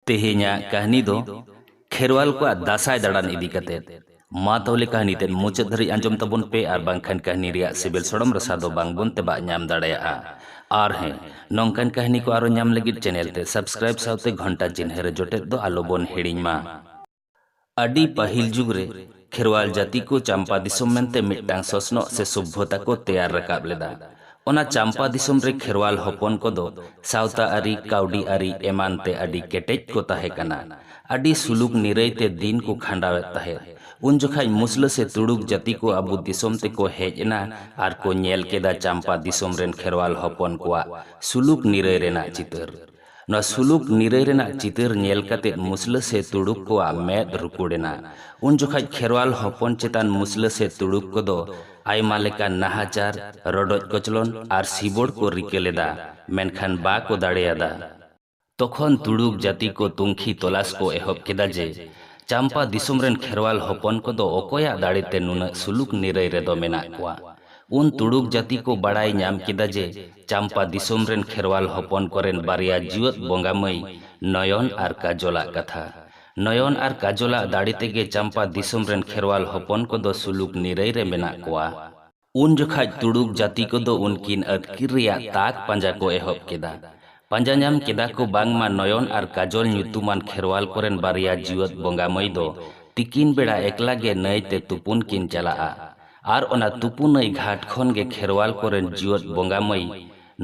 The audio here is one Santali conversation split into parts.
ᱛᱮᱦᱮᱧᱟᱜ ᱠᱟᱹᱦᱱᱤ ᱫᱚ ᱠᱷᱮᱨᱣᱟᱞ ᱠᱚᱣᱟᱜ ᱫᱟᱥᱟᱭ ᱫᱟᱬᱟᱱ ᱤᱫᱤ ᱠᱟᱛᱮ ᱢᱟ ᱛᱟᱦᱚᱞᱮ ᱠᱟᱹᱦᱱᱤ ᱛᱮᱫ ᱢᱩᱪᱟᱹᱫ ᱫᱷᱟᱹᱨᱤᱡ ᱟᱸᱡᱚᱢ ᱛᱟᱵᱚᱱ ᱯᱮ ᱟᱨ ᱵᱟᱝᱠᱷᱟᱱ ᱠᱟᱹᱦᱱᱤ ᱨᱮᱭᱟᱜ ᱥᱤᱵᱤᱞ ᱥᱚᱲᱚᱢ ᱨᱟᱥᱟ ᱫᱚ ᱵᱟᱝ ᱵᱚᱱ ᱛᱮᱵᱟᱜ ᱧᱟᱢ ᱫᱟᱲᱮᱭᱟᱜᱼᱟ ᱟᱨ ᱦᱮᱸ ᱱᱚᱝᱠᱟᱱ ᱠᱟᱹᱦᱱᱤ ᱠᱚ ᱟᱨᱚ ᱧᱟᱢ ᱞᱟᱹᱜᱤᱫ ᱪᱮᱱᱮᱞ ᱛᱮ ᱥᱟᱵᱥᱠᱨᱟᱭᱤᱵ ᱥᱟᱶᱛᱮ ᱜᱷᱚᱱᱴᱟ ᱪᱤᱱᱦᱟᱹ ᱨᱮ ᱡᱚᱴᱮᱫ ᱫᱚ ᱟᱞᱚ ᱵᱚᱱ ᱦᱤᱲᱤᱧ ᱢᱟ ᱟᱹᱰᱤ ᱯᱟᱹᱦᱤᱞ ᱡᱩᱜᱽ ᱨᱮ, ᱠᱷᱮᱨᱣᱟᱞ ᱡᱟᱹᱛᱤ ᱠᱚ ᱪᱟᱢᱯᱟ ᱫᱤᱥᱚᱢ ᱢᱮᱱᱛᱮ ᱢᱤᱫᱴᱟᱝ ᱥᱚᱥᱱᱚᱜ ᱥᱮ ᱥᱚᱵᱷᱭᱚᱛᱟ ᱠᱚ ᱛᱮᱭᱟᱨ ᱨᱟᱠᱟᱵ ᱞᱮᱫᱟ᱾ ᱚᱱᱟ ᱪᱟᱢᱯᱟ ᱫᱤᱥᱚᱢ ᱨᱮ ᱠᱷᱮᱨᱣᱟᱞ ᱦᱚᱯᱚᱱ ᱠᱚᱫᱚ ᱥᱟᱶᱛᱟ ᱟᱹᱨᱤ, ᱠᱟᱹᱣᱰᱤ ᱟᱹᱨᱤ ᱮᱢᱟᱱ ᱛᱮ ᱟᱹᱰᱤ ᱠᱮᱴᱮᱡ ᱠᱚ ᱛᱟᱦᱮᱸ ᱠᱟᱱᱟ᱾ ᱟᱹᱰᱤ ᱥᱩᱞᱩᱠ ᱱᱤᱨᱟᱹᱭ ᱛᱮ ᱫᱤᱱ ᱠᱚ ᱠᱷᱟᱸᱰᱟᱣ ᱮᱫ ᱛᱟᱦᱮᱸᱫ᱾ ᱩᱱ ᱡᱚᱠᱷᱟᱡ ᱢᱩᱥᱞᱟᱹ ᱥᱮ ᱛᱩᱲᱩᱠ ᱡᱟᱹᱛᱤ ᱠᱚ ᱟᱵᱚ ᱫᱤᱥᱚᱢ ᱛᱮ ᱠᱚ ᱦᱮᱡ ᱮᱱᱟ ᱟᱨ ᱠᱚ ᱧᱮᱞ ᱠᱮᱫᱟ ᱪᱟᱢᱯᱟ ᱫᱤᱥᱚᱢ ᱨᱮᱱ ᱠᱷᱮᱨᱣᱟᱞ ᱦᱚᱯᱚᱱ ᱠᱚᱣᱟᱜ ᱥᱩᱞᱩᱠ ᱱᱤᱨᱟᱹᱭ ᱨᱮᱱᱟᱜ ᱪᱤᱛᱟᱹᱨ᱾ ᱱᱚᱣᱟ ᱥᱩᱞᱩᱠ ᱱᱤᱨᱟᱹᱭ ᱨᱮᱱᱟᱜ ᱪᱤᱛᱟᱹᱨ ᱧᱮᱞ ᱠᱟᱛᱮ ᱢᱩᱥᱞᱟᱹ ᱥᱮ ᱛᱩᱲᱩᱠ ᱠᱚᱣᱟᱜ ᱢᱮᱫ ᱨᱩᱠᱩᱲ ᱮᱱᱟ᱾ ᱩᱱ ᱡᱚᱠᱷᱟᱡ ᱠᱷᱮᱨᱣᱟᱞ ᱦᱚᱯᱚᱱ ᱪᱮᱛᱟᱱ ᱢᱩᱥᱞᱟᱹ ᱥᱮ ᱛᱩᱲᱩᱠ ᱠᱚᱫᱚ ᱟᱭᱢᱟ ᱞᱮᱠᱟᱱ ᱱᱟᱦᱟᱪᱟᱨ, ᱨᱚᱰᱚᱡ ᱠᱚᱪᱞᱚᱱ ᱟᱨ ᱥᱤᱵᱚᱲ ᱠᱚ ᱨᱤᱠᱟᱹ ᱞᱮᱫᱟ, ᱢᱮᱱᱠᱷᱟᱱ ᱵᱟ ᱠᱚ ᱫᱟᱲᱮ ᱟᱫᱟ᱾ ᱛᱚᱠᱷᱚᱱ ᱛᱩᱲᱩᱠ ᱡᱟᱹᱛᱤ ᱠᱚ ᱛᱩᱝᱠᱷᱤ ᱛᱚᱞᱟᱥ ᱠᱚ ᱮᱦᱚᱵ ᱠᱮᱫᱟ ᱡᱮ, ᱪᱟᱢᱯᱟ ᱫᱤᱥᱚᱢ ᱨᱮᱱ ᱠᱷᱮᱨᱣᱟᱞ ᱦᱚᱯᱚᱱ ᱠᱚᱫᱚ ᱚᱠᱚᱭᱟᱜ ᱫᱟᱲᱮ ᱛᱮ ᱱᱩᱱᱟᱹᱜ ᱥᱩᱞᱩᱠ ᱱᱤᱨᱟᱹᱭ ᱨᱮᱫᱚ ᱢᱮᱱᱟᱜ ᱠᱚᱣᱟ᱾ ᱩᱱ ᱛᱩᱲᱩᱠ ᱡᱟᱹᱛᱤ ᱠᱚ ᱵᱟᱲᱟᱭ ᱧᱟᱢ ᱠᱮᱫᱟ ᱡᱮ ᱪᱟᱢᱯᱟ ᱫᱤᱥᱚᱢ ᱨᱮᱱ ᱠᱷᱮᱨᱣᱟᱞ ᱦᱚᱯᱚᱱ ᱠᱚᱨᱮᱱ ᱵᱟᱨᱭᱟ ᱡᱤᱣᱟᱹᱫ ᱵᱚᱸᱜᱟ ᱢᱟᱹᱭ ᱱᱚᱭᱚᱱ ᱟᱨ ᱠᱟᱡᱚᱞ ᱟᱜ ᱠᱟᱛᱷᱟ᱾ ᱱᱚᱭᱚᱱ ᱟᱨ ᱠᱟᱡᱚᱞ ᱟᱜ ᱫᱟᱲᱮ ᱛᱮᱜᱮ ᱪᱟᱢᱯᱟ ᱫᱤᱥᱚᱢ ᱨᱮᱱ ᱠᱷᱮᱨᱣᱟᱞ ᱦᱚᱯᱚᱱ ᱠᱚᱫᱚ ᱥᱩᱞᱩᱠ ᱱᱤᱨᱟᱹᱭ ᱨᱮ ᱢᱮᱱᱟᱜ ᱠᱚᱣᱟ᱾ ᱩᱱ ᱡᱚᱠᱷᱟᱡ ᱛᱩᱲᱩᱠ ᱡᱟᱹᱛᱤ ᱠᱚᱫᱚ ᱩᱱᱠᱤᱱ ᱟᱹᱛᱠᱤᱨ ᱨᱮᱭᱟᱜ ᱛᱟᱠ ᱯᱟᱸᱡᱟ ᱠᱚ ᱮᱦᱚᱵ ᱠᱮᱫᱟ᱾ ᱯᱟᱸᱡᱟ ᱧᱟᱢ ᱠᱮᱫᱟ ᱠᱚ ᱵᱟᱝᱢᱟ ᱱᱚᱭᱚᱱ ᱟᱨ ᱠᱟᱡᱚᱞ ᱧᱩᱛᱩᱢᱟᱱ ᱠᱷᱮᱨᱣᱟᱞ ᱠᱚᱨᱮᱱ ᱵᱟᱨᱭᱟ ᱡᱤᱣᱟᱹᱫ ᱵᱚᱸᱜᱟ ᱢᱟᱹᱭ ᱫᱚ ᱛᱤᱠᱤᱱ ᱵᱮᱲᱟ ᱮᱠᱞᱟ ᱜᱮ ᱱᱟᱹᱭ ᱛᱮ ᱛᱩᱯᱩᱱ ᱠᱤᱱ ᱪᱟᱞᱟᱜᱼᱟ᱾ ᱟᱨ ᱚᱱᱟ ᱛᱩᱯᱩ ᱱᱟᱹᱭ ᱜᱷᱟᱴ ᱠᱷᱚᱱ ᱜᱮ ᱠᱷᱮᱨᱣᱟᱞ ᱠᱚ ᱨᱮᱱ ᱡᱤᱣᱟᱹᱫ ᱵᱚᱸᱜᱟ ᱢᱟᱹᱭ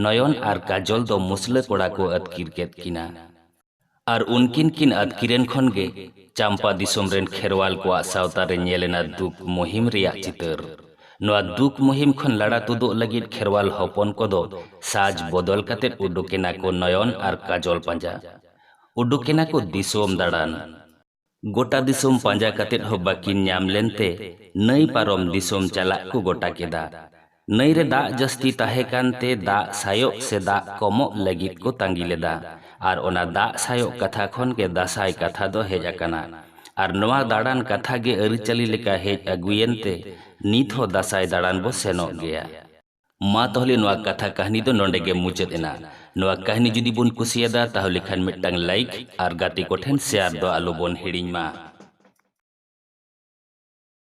ᱱᱚᱭᱚᱱ ᱟᱨ ᱠᱟᱡᱚᱞ ᱫᱚ ᱢᱩᱥᱞᱟᱹ ᱠᱚᱲᱟ ᱠᱚ ᱟᱹᱛᱠᱤᱨ ᱠᱮᱫ ᱠᱤᱱᱟ᱾ ᱟᱨ ᱩᱱᱠᱤᱱ ᱠᱤᱱ ᱟᱹᱛᱠᱤᱨᱮᱱ ᱠᱷᱚᱱ ᱜᱮ ᱪᱟᱢᱯᱟ ᱫᱤᱥᱚᱢ ᱨᱮᱱ ᱠᱷᱮᱨᱣᱟᱞ ᱠᱚᱣᱟᱜ ᱥᱟᱶᱛᱟ ᱨᱮ ᱧᱮᱞ ᱮᱱᱟ ᱫᱩᱠ ᱢᱩᱦᱤᱢ ᱨᱮᱭᱟᱜ ᱪᱤᱛᱟᱹᱨ᱾ ᱱᱚᱣᱟ ᱫᱩᱠ ᱢᱩᱦᱤᱢ ᱠᱷᱚᱱ ᱞᱟᱲᱟ ᱛᱩᱫᱩᱜ ᱞᱟᱹᱜᱤᱫ ᱠᱷᱮᱨᱣᱟᱞ ᱦᱚᱯᱚᱱ ᱠᱚ ᱫᱚ ᱥᱟᱡᱽ ᱵᱚᱫᱚᱞ ᱠᱟᱛᱮ ᱩᱰᱩᱠ ᱮᱱᱟ ᱠᱚ ᱱᱚᱭᱚᱱ ᱟᱨ ᱠᱟᱡᱚᱞ ᱯᱟᱸᱡᱟ᱾ ᱩᱰᱩᱠ ᱮᱱᱟ ᱠᱚ ᱫᱤᱥᱚᱢ ᱫᱟᱲᱟᱱ᱾ ᱜᱚᱴᱟ ᱫᱤᱥᱚᱢ ᱯᱟᱸᱡᱟ ᱠᱟᱛᱮ ᱦᱚᱸ ᱵᱟᱹᱠᱤᱱ ᱧᱟᱢ ᱞᱮᱱ ᱛᱮ ᱱᱟᱹᱭ ᱯᱟᱨᱚᱢ ᱫᱤᱥᱚᱢ ᱪᱟᱞᱟᱜ ᱠᱚ ᱜᱚᱴᱟ ᱠᱮᱫᱟ᱾ ᱱᱟᱹᱭ ᱨᱮ ᱫᱟᱜ ᱡᱟᱹᱥᱛᱤ ᱛᱟᱦᱮᱸ ᱠᱟᱱ ᱛᱮ ᱫᱟᱜ ᱥᱟᱭᱚᱜ ᱥᱮ ᱫᱟᱜ ᱠᱚᱢᱚᱜ ᱞᱟᱹᱜᱤᱫ ᱠᱚ ᱛᱟᱺᱜᱤ ᱞᱮᱫᱟ ᱟᱨ ᱚᱱᱟ ᱫᱟᱜ ᱥᱟᱭᱚᱜ ᱠᱟᱛᱷᱟ ᱠᱷᱚᱱ ᱜᱮ ᱫᱟᱥᱟᱸᱭ ᱠᱟᱛᱷᱟ ᱫᱚ ᱦᱮᱡ ᱟᱠᱟᱱᱟ ᱟᱨ ᱱᱚᱶᱟ ᱫᱟᱬᱟᱱ ᱠᱟᱛᱷᱟ ᱜᱮ ᱟᱹᱨᱤᱪᱟᱹᱞᱤ ᱞᱮᱠᱟ ᱦᱮᱡ ᱟᱹᱜᱩᱭᱮᱱ ᱛᱮ ᱱᱤᱛ ᱦᱚᱸ ᱫᱟᱥᱟᱸᱭ ᱫᱟᱬᱟᱱ ᱵᱚ ᱥᱮᱱᱚᱜ ᱜᱮᱭᱟ᱾ ᱢᱟ ᱛᱟᱦᱚᱞᱮ ᱱᱚᱣᱟ ᱠᱟᱛᱷᱟ ᱠᱟᱹᱦᱱᱤ ᱫᱚ ᱱᱚᱰᱮ ᱜᱮ ᱢᱩᱪᱟᱹᱫ ᱮᱱᱟ ᱱᱚᱣᱟ ᱠᱟᱹᱦᱱᱤ ᱡᱩᱫᱤ ᱵᱚᱱ ᱠᱩᱥᱤᱭᱟᱫᱟ ᱛᱟᱦᱚᱞᱮ ᱠᱷᱟᱱ ᱢᱤᱫᱴᱟᱝ ᱞᱟᱭᱤᱠ ᱟᱨ ᱜᱟᱛᱮ ᱠᱚᱴᱷᱮᱱ ᱥᱮᱭᱟᱨ ᱫᱚ ᱟᱞᱚ ᱵᱚᱱ ᱦᱤᱲᱤᱧ ᱢᱟ